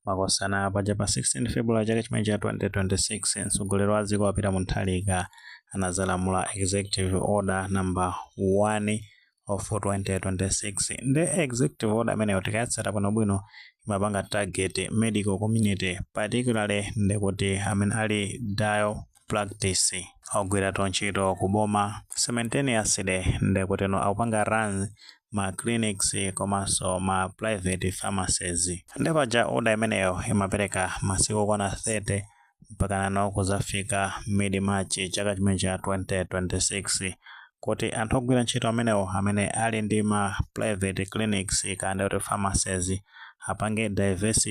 Makosana paja pa 16 February chaka chimenechi cha 2026 mtsogoleri wa dziko a Peter Mutharika anadzalamula executive order number 1 of 2026 ndi executive order imeneyo tikayatsata bwinobwino imapanga target medical community particularly ndikuti amene ali dual practice. Ogwira ntchito ku boma simultaneously ndekuti akupanga run ma clinics komanso ma private pharmacies. Nde paja order imeneyo imapereka masiku okwana 30 mpaka nano kuzafika mid March chaka chimene cha 2026. kuti anthu ogwira ntchito amenewo amene ali ndi ma private clinics kaya ndikuti pharmacies apange divest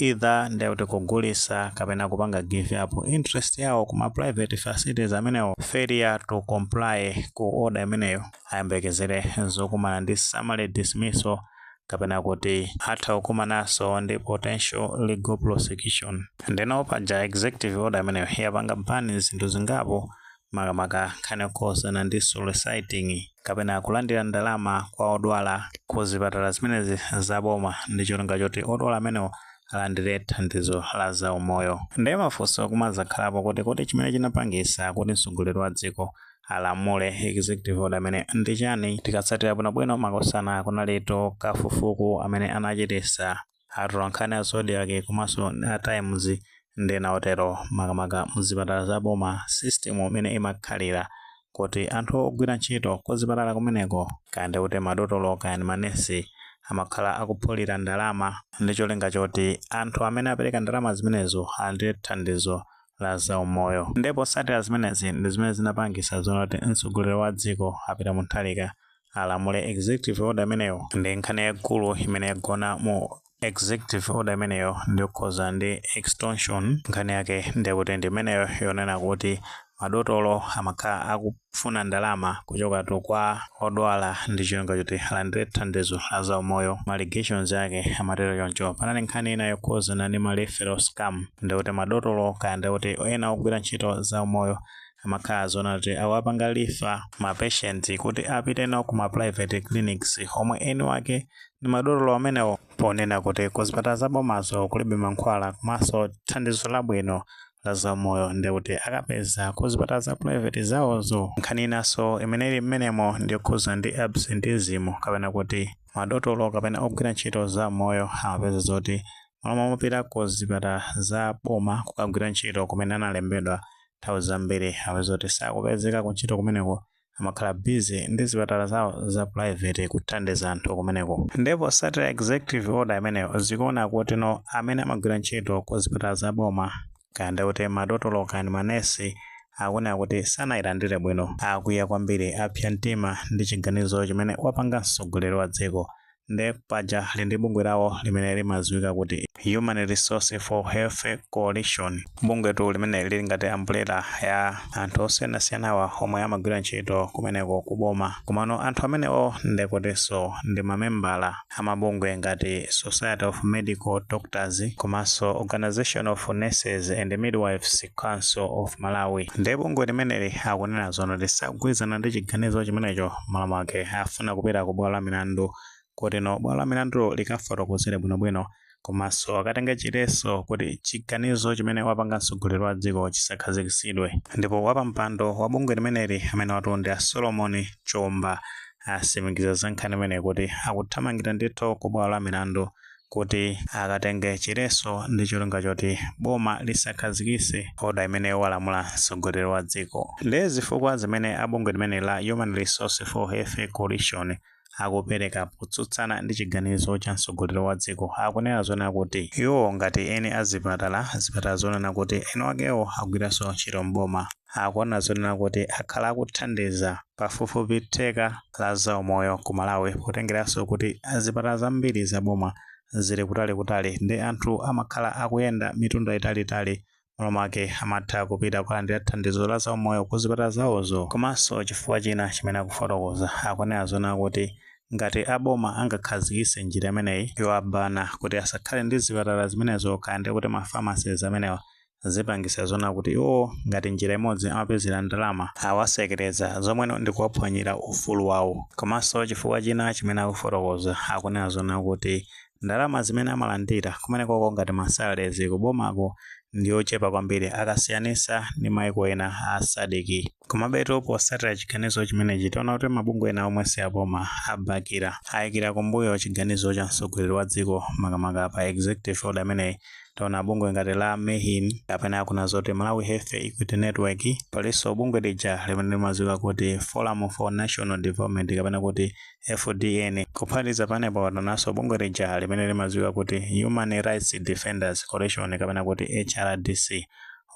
either ndikuti kugulisa kapena kupanga give up interest yawo kuma private facilities amenewo failure to comply ku order imeneyo ayembekezere zokumana ndi summary dismissal kapena kuti atha kukumanaso ndi potential legal prosecution ndeno paja executive order imeneyo yapanga ban zinthu zingapo makamaka nkhani yokhuzana ndi soliciting kapena kulandira ndalama kwa odwala ku zipatala zimenezi za boma ndi cholinga choti odwala amenewo alandire thandizo la za umoyo. Ndiye mafunso kumazakhalapo kuti kodi chimene chinapangisa kuti mtsogoleri wa dziko alamule executive order imeneyi ndi chani? Tikatsatira bwinobwino makosana kunalitu kafukufuku amene anachitisa atolankhani a Zodiak komanso a Times ndi ena otero makamaka mzipatala za boma system imene imakhalira kuti anthu ogwira ntchito kuzipatala kumeneko kaya ndikuti madotolo kaya ndi manesi amakhala akuphulira ndalama ndi cholinga choti anthu amene apereka ndalama zimenezo alandire thandizo la zaumoyo nde potsatira zimenezi ndi zimene zinapangisa zonati mtsogoleri wa dziko a Peter Mutharika alamule executive order imeneyo ndi nkhani yaikulu imene yagona mu executive order imeneyo ndiyokhuza ndi extortion nkhani yake ndiyekuti ndi imeneyo yonena kuti madotolo amakhala akufuna ndalama kuchokatu kwa odwala ndi cholinga choti alandire thandizo la zaumoyo ma allegations ake amatero choncho panali nkhani ina yokhuzana ndi ma referral scam ndikuti madotolo kaya ndikuti ena ogwira ntchito zaumoyo amakhala zonena kuti akuwapanga refer ma patient kuti apite nawo ku ma private clinics omwe eni wake ndi madotolo amenewo ponena kuti ku zipatala za bomazo kulibe mankhwala komanso thandizo labwino la zaumoyo ndi kuti akapeza ku zipatala za private zawozo nkhani inanso imene ili mmenemo ndi yokhuza ndi absenteeism kapena kuti madotolo kapena ogwira ntchito zaumoyo amapezeka zoti mmalo momapita ku zipatala za boma kukagwira ntchito kumene analembedwa Nthawi zambiri apeza kuti sakupezeka kuntchito kumeneko, amakhala busy ndi zipatala zawo za private kuthandiza anthu kumeneko. Ndiye posatira executive order imeneyo, zikuoneka kuti no amene amagwira ntchito ku zipatala za boma, kaya ndi kuti madotolo kaya ndi manesi, akunena kuti sanayilandire bwino. Akwiya kwambiri, apsa mtima ndi chiganizo chimene wapanga mtsogoleri wa dziko. nde paja ali ndi bungwe lawo limene limadziwika kuti Human Resource for Health Coalition. Bungwetu limeneli lili ngati ambulera ya anthu osiyanasiyanawa omwe amagwira ntchito kumeneko ku boma. Komano anthu amenewo nde kutinso ndi mamembala a mabungwe ngati Society of Medical Doctors komanso Organisation of Nurses and Midwives Council of Malawi. Nde bungwe limeneli akunena zonena kuti sakugwirizana ndi chiganizo chimenecho. m'malo mwake akufuna kupita ku bwalo la milandu koteno bwalo la milandu likafotokozere bwinobwino komanso akatenge chiletso kuti chiganizo chimene wapanga mtsogoleri wa dziko chisakhazikisidwe ndipo wapampando wa bungwe limeneli amene watu ndi a solomon chomba atsimikiza za nkhani imeneyi kuti akuthamangira ndithu ku bwalo la milandu kuti akatenge chiletso ndi cholinga choti boma lisakhazikise order imene walamula mtsogoleri wa dziko. Nde zifukwa zimene a bungwe limeneli la Human Resource for Health Coalition akupereka potsutsana ndi chiganizo cha mtsogoleri wa dziko akunena zonena kuti iwowo ngati eni a zipatala, zipatala zonena kuti eni wakewo akugwiranso ntchito m'boma, akunena zonena kuti akhala akuthandiza pafupifupi theka la zaumoyo ku Malawi potengeranso kuti zipatala zambiri zaboma zili kutalikutali ndi anthu amakhala akuyenda mitunda italiitali m'malo mwake amatha kupita kukalandira thandizo la zaumoyo ku zipatala zawozo. Komanso chifukwa china chimene akufotokoza, akunena zonena kuti ngati aboma angakhazikise njira imeneyi yowabana kuti asakhale ndi zipatala zimenezo kaya ndikuti ma pharmacies amenewa, zipangisa zonena kuti iwowo ngati njira imodzi amapezera ndalama awatsekera zomweno ndikuwaphwanyira ufulu wawo. Komanso chifukwa china chimene akufotokoza akunena zonena kuti ndalama zimene amalandira kumenekoko ngati ma salaries kubomako ndiyochepa kwambiri akasiyanisa ndi maiko ena a Sadc. Komabetu potsatira chiganizo chimenechi taona kuti mabungwe ena omwe si aboma abakira, ayikira kumbuyo chiganizo cha mtsogoleri wa dziko makamaka pa executive order imeneyi. Taona bungwe ngati la Mehn kapena kunena zoti Malawi Health Equity Network, palinso bungwe lija limene limadziwika kuti Forum for National Development kapena kuti FDN. Kuphatikiza pamenepo taonanso bungwe lija limene limadziwika kuti Human Rights Defenders Coalition kapena kuti HRDC.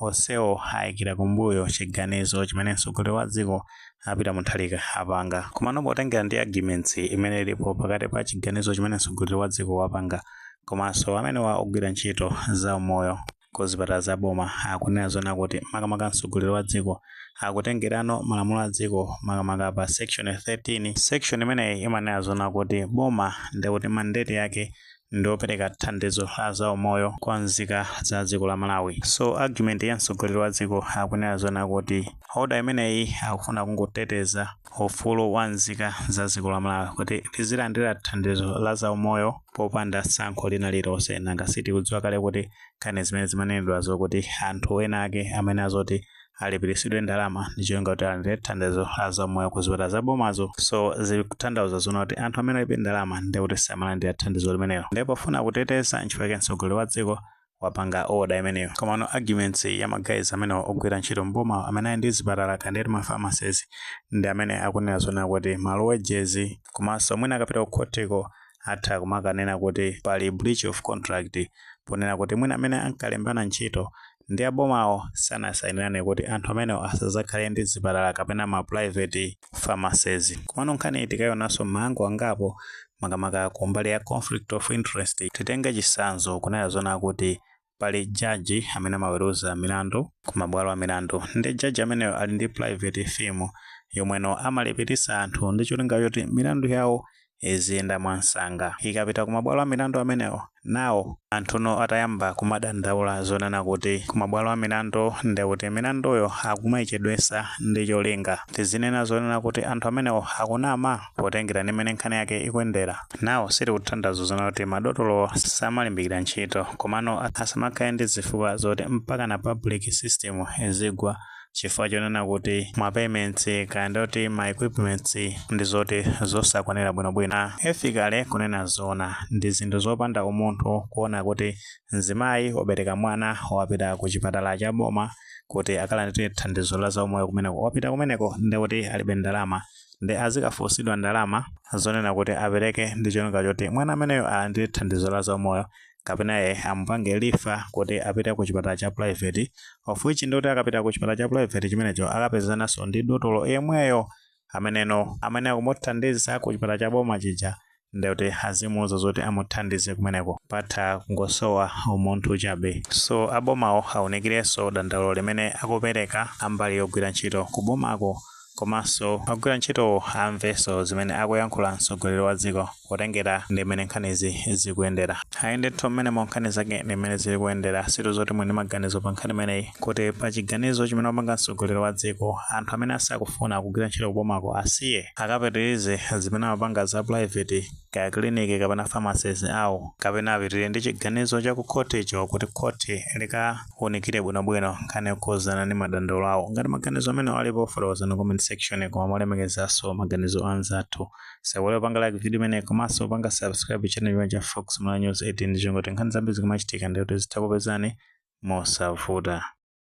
Onsewo ayikira kumbuyo chiganizo chimene mtsogoleri wa dziko a Peter Mutharika apanga. Komano potengera ndi arguments imene ilipo pakati pa chiganizo chimene mtsogoleri wa dziko wapanga komanso amenewa ogwira ntchito za umoyo ku zipatala za boma akunena zoona kuti makamaka mtsogoleri wa dziko akutengerano malamulo a dziko makamaka pa section 13. Section imeneyi imanena zoona kuti boma ndekuti mandate yake ndi opereka thandizo la za umoyo kwa nzika za dziko la Malawi. So argument ya mtsogoleri wa dziko akunena zona kuti order imeneyi akufuna kungoteteza ufulu wa nzika za dziko la Malawi kuti izilandira thandizo la za umoyo popanda tsankho lina lililonse nanga sitikudziwa kale kuti nkhani zimene zimanenedwazo kuti anthu ena ake amene azoti alipiritsidwe ndalama ndi cholinga kuti alandire thandizo la za umoyo ku zipatala za bomazo so zikutanthauza zona kuti anthu amene alibe ndalama ndiye kuti samalandira thandizo limenelo ndiye pofuna kuteteza nchifukwa chake mtsogoleri wa dziko wapanga oda imeneyo komano arguments ya magayizi amenewa ogwira ntchito mbomawo amene ali ndi zipatala kaya nditi ma pharmacies ndi amene akunena zona kuti ma low wages komanso mwina akapita kukhotiko atha kumakanena kuti pali breach of contract ponena kuti mwina amene ankalembana ntchito ndi abomawo sanasainirane kuti anthu amenewo asazakhale ndi zipatala kapena ma private pharmacies. Komano nkhaniyi tikaionanso m'maangle angapo makamaka kumbali ya conflict of interest. Titenge chitsanzo, kunena zoona kuti pali judge amene amaweruza milandu ku mabwalo a milandu nde judge ameneyo ali ndi private firm yomweno amalipilitsa anthu ndi cholinga choti milandu yawo iziyenda mwansanga ikapita kumabwalo amilandu amenewo now anthuno atayamba kumadandaula zonena kuti kumabwalo amilandu ndekuti milanduyo akumayichedwesa ndi cholinga tizinena zonena kuti anthu amenewo akunama potengera ndi mmene nkhani yake ikuyendera now sitikutanthauza zonena kuti madotolowo samalimbikira ntchito komano asamakhale ndi zifukwa zoti mpakana public system izigwa chifukwa chonena kuti ma payments kaya nditi ma equipments ndi zoti zosakwanira bwinobwino ah, ethically kunena zona ndi zinthu zopanda umunthu kuona kuti mzimayi wabereka mwana wapita ku chipatala cha boma kuti akalandire thandizo la zaumoyo kumeneko wapita kumeneko ndi kuti alibe ndalama ndi azikafunsidwa ndalama zonena kuti apereke ndi cholinga choti mwana ameneyo alandire thandizo la zaumoyo kapena ye amupange refer kuti apite ku chipatala cha private of which ndikuti akapita ku chipatala cha private chimenecho akapezananso ndi dotolo yemweyo ameneno amene akumuthandiza ku chipatala cha boma chija ndikuti azimuuza zoti amuthandize kumeneko apa nkungosowa umunthu chabe so abomawo aunikirenso dandaulo limene akupereka ambali yogwira ntchito kubomako komanso ogwira ntchitowo amvenso zimene akuyankhula mtsogoleri wa dziko potengera ndi mmene nkhanizi zikuyendera. Ayi ndithu mmenemo ndi nkhani zake ndi mmene zili kuyendera, sitidziwa kuti muli ndi maganizo pa nkhani imeneyi kuti pa chiganizo chimene wapanga mtsogoleri wa dziko anthu amene asakufuna kugwira ntchito kubomako asiye akapitirize zimene amapanga za pulaiveti kaya kiliniki kapena pharmacies awo, kapena apitire ndi chiganizo cha ku khothicho kuti khothi lika. unikire bwinobwino nkhani yokhudzana ndi madandaulo awo. Ngati maganizo amenewo alipo, fotokozani mu comment section koma molemekezanso maganizo a anzathu. Musaiwale kupanga like video imeneyi komanso kupanga subscribe channel chino cha Fox Malawi News 18 ndi cholinga choti nkhani zambiri zikamachitika ndiye kuti zizikupezani mosavuta.